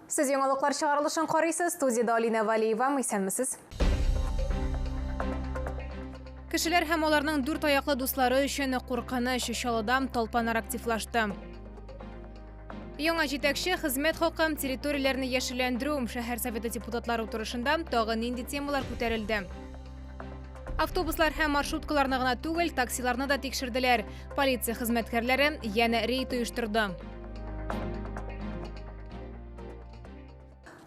Сез яңалыклар чыгарылышын карыйсыз, студиядә Алинә Валиева, исәнмесез. Кешеләр һәм аларның дүрт аяклы дуслары өчен куркыныч чалыдам талпанар активлашты. Яңа җитәкче хезмәт хакы, территорияләрне яшелләндерү, шәһәр советы депутатлары утырышында тагы нинди темалар күтәрелде? Автобуслар һәм маршруткаларны гына түгел, таксиларны да тикшерделәр. Полиция хезмәткәрләре янә рейд оештырды.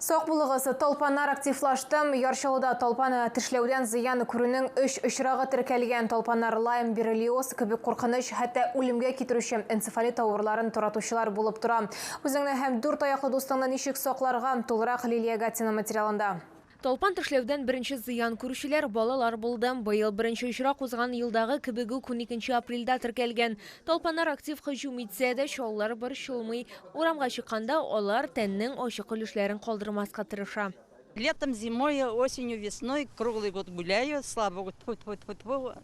Сак булыгыз, толпаннар активлаштым. Ярчылыда толпаны тешләүдән зыян күрүнең өч очрагы теркәлгән. Толпаннар лайм, бирелиоз кебек куркыныч, хәтта үлемгә китерүче энцефалит авыруларын торатучылар булып тора. Үзеңне һәм дүрт аяклы дустыңны ничек сакларга? Тулырак Лилия Гатина материалында. Талпан тешләүдән беренче зыян күрүчеләр, балалар булды. Быел беренче очрак узган елдагы кебек үк уникенче апрельдә теркәлгән. Талпаннар актив һөҗүм итсә дә, чаллар борчылмый. Урамга чыкканда, алар тәннең ачык өлешләрен калдырмаска тырыша. Летом, зимой, осенью, весной, круглый год гуляю, слава богу, тьфу-тьфу-тьфу-тьфу,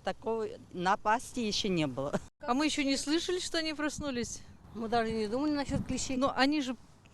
такой напасти еще не было. А мы еще не слышали, что они проснулись. Мы даже не думали насчет клещей, но они же.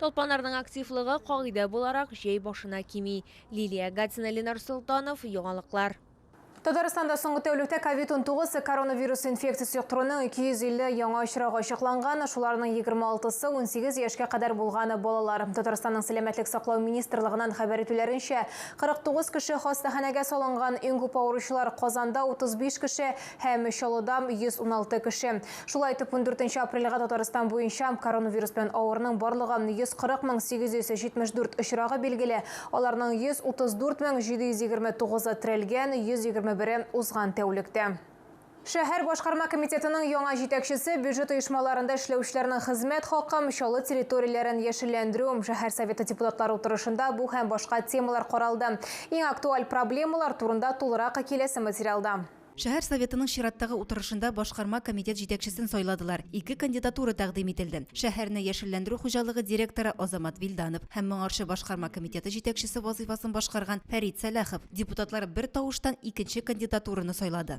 Талпанарның активлыгы, кагыйдә буларак, җәй башына кими. Лилия Гатина, Ленар Солтанов, Яңалыклар. Татарстанда соңгы тәүлектә ковид-19 коронавирус инфекциясе йоктыруның 250 яңа очрагы ачыкланган, шуларның 26-сы 18 яшькә кадәр булган балалар. Татарстанның Сәламәтлек саклау министрлыгыннан хәбәр итүләренчә, 49 кеше хастаханәгә салынган, иң күп авыручылар Казанда, 35 кеше, һәм Чаллыда, 116 кеше. Шулай итеп, ундүртенче апрельгә Татарстан буенча коронавирус белән авыруның барлыгы 140 мең 874 очрагы билгеле, аларның 134 мең 729-ы терәлгән, 121-е, узган тәүлектә. Шәһәр башкарма комитетының яңа җитәкчесе бюджет оешмаларында эшләүчеләрнең хезмәт хакым, чаллы территорияләрен яшелләндерү, шәһәр Советы депутатлары утырышында бу һәм башка темалар каралды. Иң актуаль проблемалар турында тулырак киләсе материалда. Шәһәр Советының чираттагы утырышында башкарма комитет җитәкчесен сайладылар. Ике кандидатура тәкъдим ителде. Шәһәрне яшелләндерү хуҗалыгы директоры Азамат Вилданов һәм моңарчы башкарма комитеты җитәкчесе вазыйфасын башкарган Фәрит Сәлахов. Депутатлар бер тавыштан икенче кандидатураны сайлады.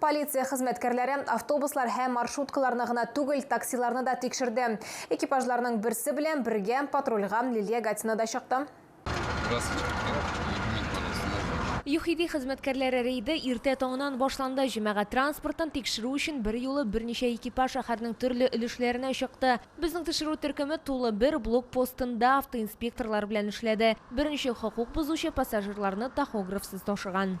Полиция хезмәткәрләре автобуслар һәм маршруткаларны гына түгел, таксиларны да тикшерде. Экипажларның берсе белән бергә патрульга Лилия Гатина да чыкты. ЮХИДИ хезмәткәрләре рейды иртә таңнан башланды. Җәмәгать транспортын тикшерү өчен берьюлы берничә экипаж шәһәрнең төрле өлешләренә чыкты. Безнең төшерү төркеме тулы бер блокпостында автоинспекторлар белән эшләде. Беренче хокук бозучы пассажирларны тахографсыз ташыган.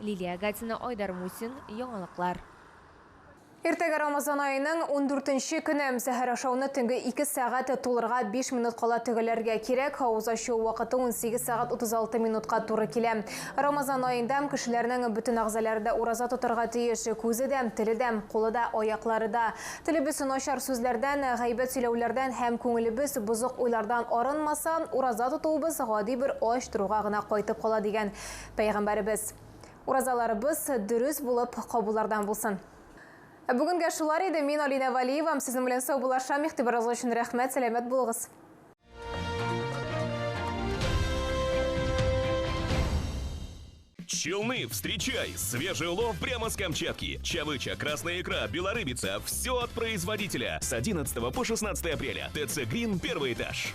Лилия Гатина, Айдар Мусин, Яңалыклар. Иртәгә Рамазан аеның ундүртенче көне. Сәхәр ашауны төнге ике сәгать тулырга биш минут кала төгәлләргә кирәк. Авыз ачу вакыты унсигез сәгать утыз алты минутка туры килә. Рамазан аенда кешеләрнең бөтен әгъзалары да ураза тотарга тиеш. Күзе дә, теле дә, кулы да, аяклары да. Телебез начар сүзләрдән, гайбәт сөйләүләрдән һәм күңелебез бозык уйлардан арынмаса, ураза тотуыбыз гади бер ач торуга гына кайтып кала, дигән Пәйгамбәребез. Уразаларыбыз дөрес булып кабуллардан булсын. Ә бүгенгә шулар иде. Мин Алинә Валиевам сезнең белән саубуллашам. Игътибарыгыз өчен рәхмәт, сәламәт булыгыз. Челны, встречай! Свежий улов прямо с Камчатки. Чавыча, красная икра, белорыбица. Все от производителя. С 11 по 16 апреля. ТЦ «Грин» первый этаж.